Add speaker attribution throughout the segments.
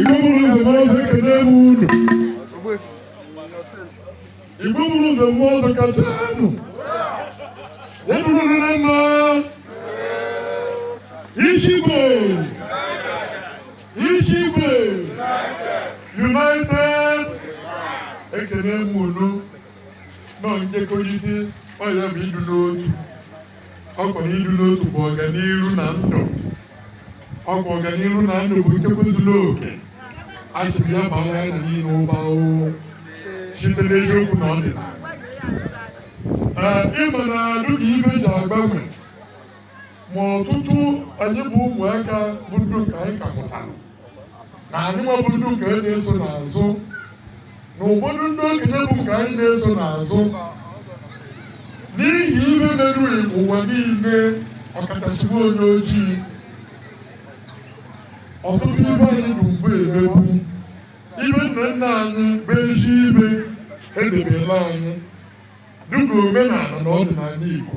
Speaker 1: Igbo buru ụzọ mgbe ọzọ ekele m unu Igbo buru ụzọ mgbe ọzọ kacha anụ ya bụrụ na mma Ishigwe Ishigwe United ekele m unu nọ njikọrịta ọ ya bụ ịdụ n'otu ọ kwa ịdụ n'otu bụ ọganiru na ndụ ọ kwa ọganiru na ndụ bụ nchekwa zuru oke a sịrị ya baa ya na niile ụba oo site n'eziokwu na ọdịnala ee ịma na ọ dụ ka ibe ji agbanwe ma ọtụtụ anyị bụ ụmụaka bụ ndụ nke anyị ka pụtara na anyị nwa bụ ndụ nke na-eso n'azụ na ụfọdụ ndị okenye bụ nke anyị na-eso n'azụ n'ihi ibe merụghị ụwa niile ọkachasịwa onye ojii ọtụtụ ibe anyị bụ mgbe emebu ibe nna nna anyị bụ ezi ibe edebela anyị dịka omenala na ọdịnala Igbo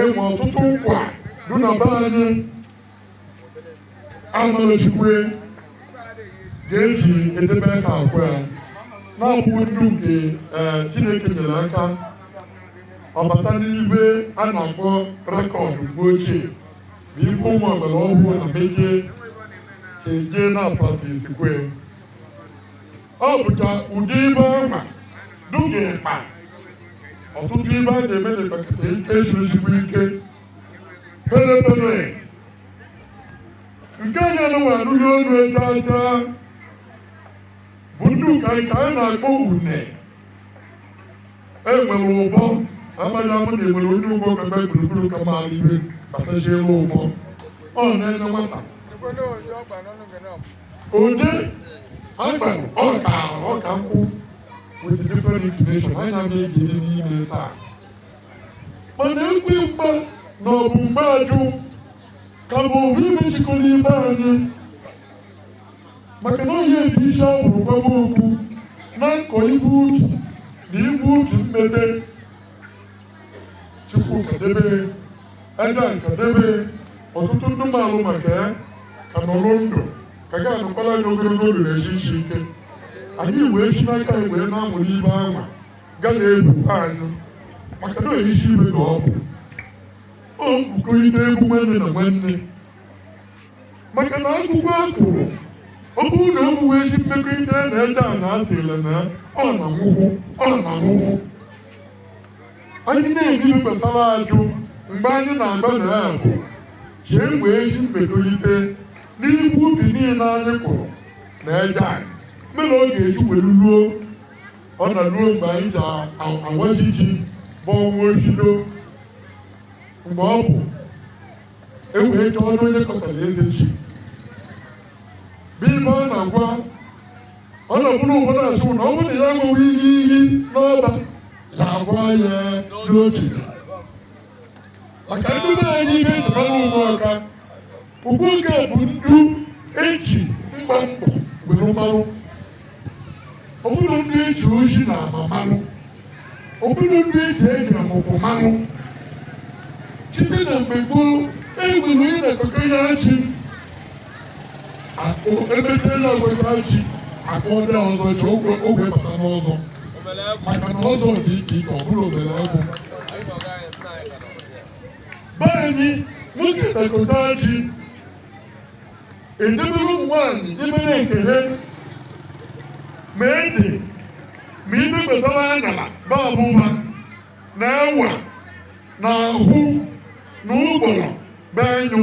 Speaker 1: enwe ọtụtụ nkwa dị na be anyị amalechukwe ga-eji edebe ka akwa ya na-abụ ndụ nke Chineke nyere aka ọbata n'ibe a na-akpọ record mgbe ochie bụ ibe ụmụ agbara ọhụụ na meje eje na-apratisikwe ọ bụcha ụdị ibe ọma dụga mkpa ọtụtụ ibe a na-eme na ekpekata ike ezigbo ike pere pere nke onye nụwa arụghị ọrụ ego aja bụ ndị ụka anyị ka anyị na-akpọ une enwere ụbọ amaghị m na enwere onye ụgbọ kebe gburugburu ka mara ibe gbasalụ ụbọ ọ na-enye nwata Ode agba ọka ọka nkwụ with different inclination anyị na-ejiri n'ime taa mana ekwe mgba na ọ bụ mgbe ajụ ka bụ owu ibe chịkọrọ ibe anyị maka na onye dị isi ahụrụ gwaba okwu na nkọ ibu ubi na ibu ubi mmete chukwu ka debe a ga-aka debe ọtụtụ ndị malụ maka ya ka nọrọ ndụ ka ga anọkwala anyị ogologo ndụ na ahụ isi ike anyị wee si n'aka anyị wee na-amụrụ ibe anwa ga na-ebukwa anyị maka na isi ibe ka ọ bụ o mbukọrịta egwu nwanne na nwanne maka na akwụkwọ a kụrụ ọ bụrụ na ụmụ wee si mmekọrịta na ede a na atịla na ọ na-anwụhụ ọ na-anwụhụ anyị na-ebi gbasara ajụ mgbe anyị na-agba na ya bụ ji wee si mmekorite n'ihu ubi niile anyị kụrụ na eje anyị mere ọ ga-eji were ruo ọ na ruo mgbe anyị ji awaji ji bụ ọnwa ohido mgbe ọ bụ ewee chọọ ọnụ onye kọtara eze ji bụ ibe ọ na-agwa ọ na-ekwuru ụfọdụ asị na ọ bụrụ na ya ṅụrụ iyi iyi n'ọba ya agwa ya n'otu maka ndị be anyị ibe echebara ugbu ọka ugbu nke bụ ndị eji mgba mkpọ were marụ ọ bụrụ ndị eji oji na ama marụ ọ bụrụ ndị eji eji ọmụkwụ marụ site na mgbe gboo e nwere onye na-akọka ya ji akpụ ebe tela weta ji akpụ ndị ọzọ ji ogwe ogwe bata n'ọzọ maka na ọzọ dị iche iche ọ bụrụ obere ọgwụ be anyị nwoke na-akọta ji edebere ụmụ nwaanyị imere nke ha ma ede ma ibe gbasara anyala na ọbụba na ewa na ahụ na ụgbọrọ be anyụ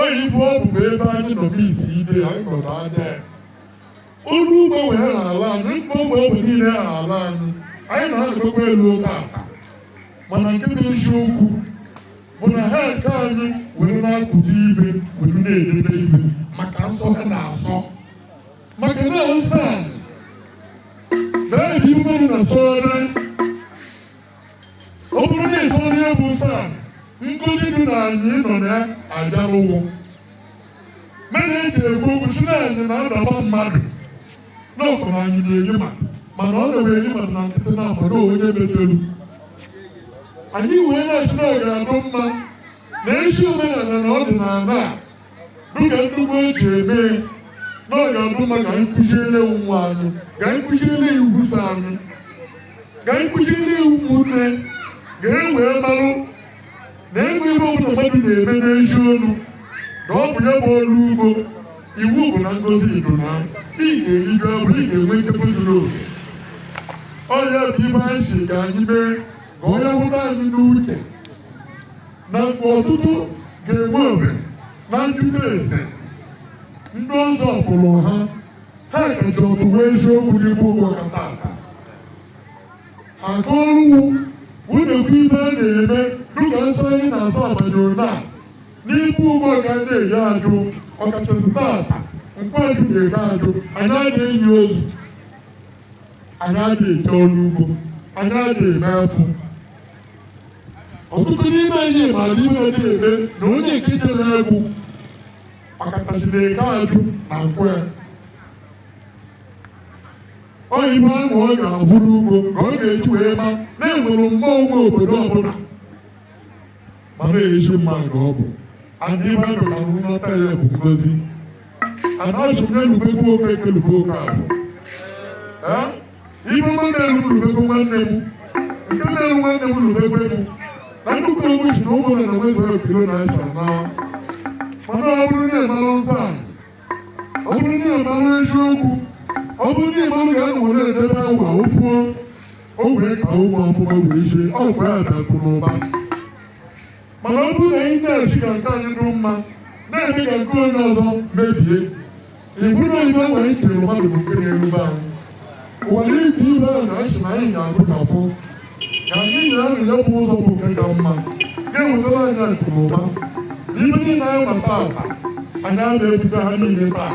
Speaker 1: oyibo ọ bụkwa ebe anyị nọ n'isi ide anyị nọdụ ada olu ugbo wee na ala anyị mkpọ mgbe ogbe niile na ala anyị anyị na-anọdụkwa elu oke aka mana nke bụ eziokwu bụ na ha nke anyị were na-akụta ibe were na-edebe ibe maka nsọ ha na-asọ maka na nsọ anyị ga-adị mma ọ bụrụ na asọrọ ọ bụrụ na ịsọrọ ihe bụ nsọ a ngọzi dị na anyị nọ na ya abịarụwo mere eji ekwu okwu si na anyị na-adaba mmadụ n'ọkụ na anyị na-enye mmadụ ọ na-ewe enye mmadụ na nkịtị na abụrọ onye metelu anyị wee na-asị na ọ ga-adụ mma na ezi omenala na ọdịnala a dịka ndị gboo ji eme na ọ ga-adụ mma ka anyị kụziere ụmụ anyị ka anyị kụziere iwu so anyị ka anyị kụziere ụmụnne ka e wee marụ na enwee ibe ọbụla mmadụ na-eme n'ezi ọlụ na ọ bụ ya bụ ọrụ ugbo iwu bụ na ngọzi dị na ị ga-erigo abụ ị ga-enwe nkekọ zuru oke ọ ya bụ ibe anyị si ka anyị mee ka onye hụta anyị n'uche na mgbe ọtụtụ ga-enwe ohere na njụta ese ndị ọzọ fụrụ ha ha kacha ọtụ wee eziokwu n'ime ugbawka tata ha gụọrụwu wụnyekwa ihe a na-eme dịka nsọ anyị na-asọ abanyoro na n'ime ugbawka ndị eyi ajụ ọkachasị tata nkwọ ajụ na eke ajụ anyị anaghị eyi ozu anyị anaghị eje ọrụ ugbo anyị anaghị eme afọ ọtụtụ n'ime anyị maara ihe na-eme na onye nke jere egwu ọkachasị na eke ajụ na nkwọ ya oyibo ahụ ọ ga-abụ n'ugbo ka ọ ga-eji wee ma na e nwere mmụọ nwe obodo ọbụla ma na-eji mma nke ọ bụ adị baịbụl na nghọta ya bụ ngozi anaghị m na-elubekwa oke ekelube oke abụ ibu nwanne m rubekwa nwanne m nke na-eru nwanne m rubekwa m na nnukwu egwu si na ụmụ na na mezuru okiro na asa na mana ọ bụrụ na ị malụ nsọ a ọ bụrụ na ị malụ eziokwu ọ bụrụ na ị malụ ka anọ were edebe agwa ofuo o wee ka ụmụ ọfụma wee sie ọ bụ ya akụ n'ụba mana ọ bụrụ na anyị na-asị ka nke anyị dụrụ mma na-eme ka nke onye ọzọ mebie ibu na ibe mgbe anyị tiri mmadụ bụ nke na-erube anyị ụwara ibe ibe a na achị na anyị ga-agụkapụ ka anyị na-arị ya bụ ụzọ bụ nke ka mma ga-ewetara anyị akụ na ụba ihe niile anyị ma taa anyị ana-ebute ha niile taa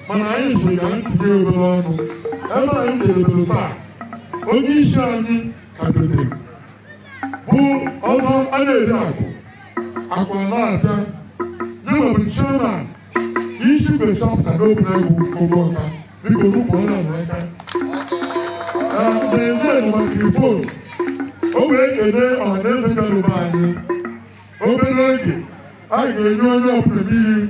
Speaker 1: mana anyị si ka anyị tinye obere ọnụ ebe anyị na-ebere taa onye isi anyị ka dotere bụ ọzọ a na-eri akụ akụ a na-abịa ya nwa bụ chairman isi mgbe chapter n'obinagu ugbawka biko kụọrọnụ ya aka na-enye microphone o wee kene ọhaneze bịarụba anyị obere oge a ga-enye onye ọbụla mmiri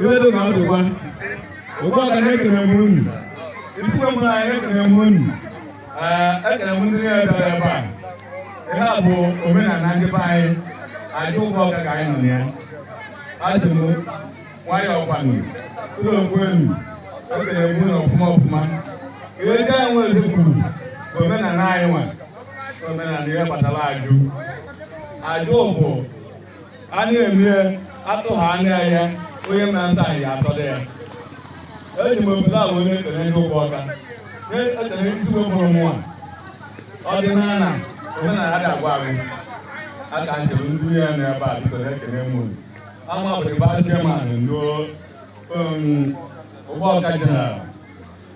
Speaker 2: iwe dị ka ọ dịkwa ugbawka na-ekele m unu isikwe m na anyị ekele m unu ekele m ndị niile bịara ebe a ihe a bụ omenala ndị be anyị ajụ ugbawka ka anyị nọ na ya asị m nwayọọ kwanụ ụlọ okwe unu ekele m unu ọfụma ọfụma ihe ndị anyị nwere eze kwuru bụ omenala anyị nwa omenala ihe kpatara ajụ ajụ bụ a na-eme ya atụghị anya ya onye mma nta anyị atọrọ ya eji m ụzọ a wee na-ekele ndị ugbawka na-ekele ndị isi wepụrụ mụwa ọdịnala omenala adịghị agwụ agwụ aka njem ndị ya na ebe a biko na-ekele m unu ama bụ vice chairman ndị ugbawka general